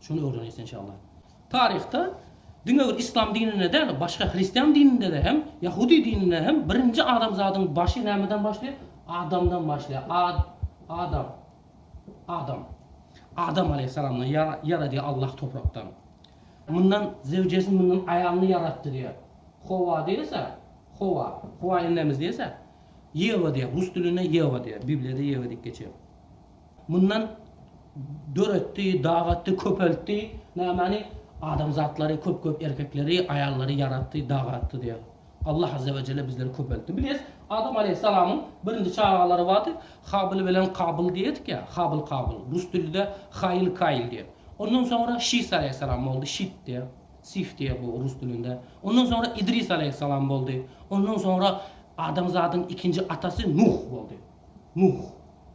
Şuny öwreneýs enşalla. Taryhda diňe bir islam dininde däl, başga hristian dininde-de hem, ýahudi dininde hem birinji adamzadyň başy nämeden başlaýar? Adamdan başlaýar. Ad, Adam. Adam. Adam aleýhissalamdan ýar, ýaradýar Allah toprakdan. Mundan zewjesini, mundan aýalyny ýaratdy diýýär. Howa diýilse, Howa. Howa enemiz diýilse, Ýewa diýýär. Rus dilinde Ýewa diýýär. Bibliýada Ýewa diýip geçýär. Mundan döretdi, dagatdy, köpeltdi. Nämani? Adamzatlary, köp-köp erkekleri, aýallary ýaratdy, dagatdy diýýär. Allah Azze we Jelle bizleri köpeltdi. Bileris, Adam aleýhissalamyň birinji çagalary bardy. Habyl bilen Kabyl diýerdik ýa, Habyl, Kabyl. Rus dilinde Haýl, Kaýl diýer. Ondan soňra Şis aleýhissalam boldy, Şit diýer, Sif diýer bu rus dilinde. Ondan soňra Idris aleýhissalam boldy. Ondan soňra adamzadyň ikinji atasy Nuh boldy. Nuh.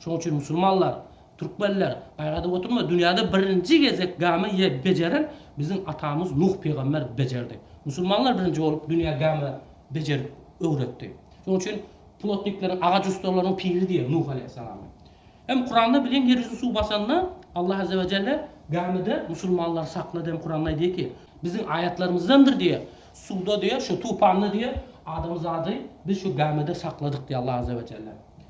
Şoň üçin musulmanlar, türkmenler, gaýgadyp oturma, dünýäde birinji gezek gämi ýe bejeren biziň atamyz Nuh pygamber bejerdi. Musulmanlar birinji bolup dünýä gämi bejerip öwretdi. Şoň üçin plotnikleriň, agaç ussalarynyň piri diýer Nuh aleýhissalamy. Hem Kuranda bilin ýer ýüzüni suw basanda Allah azze we celle gämide musulmanlary saklady hem Kuranda aýdýar ki, biziň aýatlarymyzdandyr diýer, suwda diýer, şu tupanda diýer, adamzady biz şu gämide sakladyk diýer Allah azze we celle.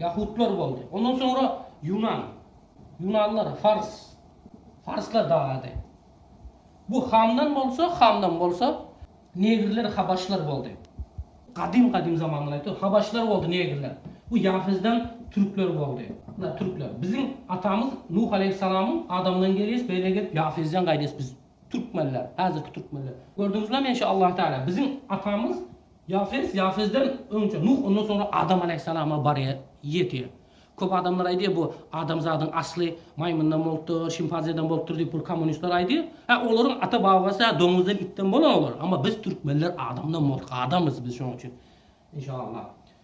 Ýahutlar boldy. Ondan soňra Ýunan. Ýunanlar, Fars. Farslar dagady. Bu Hamdan bolsa, Hamdan bolsa, Negrler, Habaşlar boldy. Gadym-gadym zamandan aýtdy. Habaşlar boldy, Negrler. Bu Ýafesden Türkler boldy. Muna Türkler. Biziň atamyz Nuh aleýhissalamyň Adamdan gelýäs, beýle gelip Ýafesden gaýdýas biz. Türkmenler. Häzirki Türkmenler. Gördüňizlemi enşe Allahu Teala. Biziň atamyz. Ýafes, Ýafesden öňçe Nuh, ondan soňra Adam alaýhyssalama barýar, ýetýär. Köp adamlar aýdýar, bu adamzadyň asly maýmyndan bolupdyr, şimpanzeden bolupdyr diýip bu kommunistler aýdýar. Hä, olaryň ata-babasy-a doňuzdan, itden bolan olar. Amma biz türkmenler adamdan bolduk, adamyz biz şonuň üçin. Inşallah.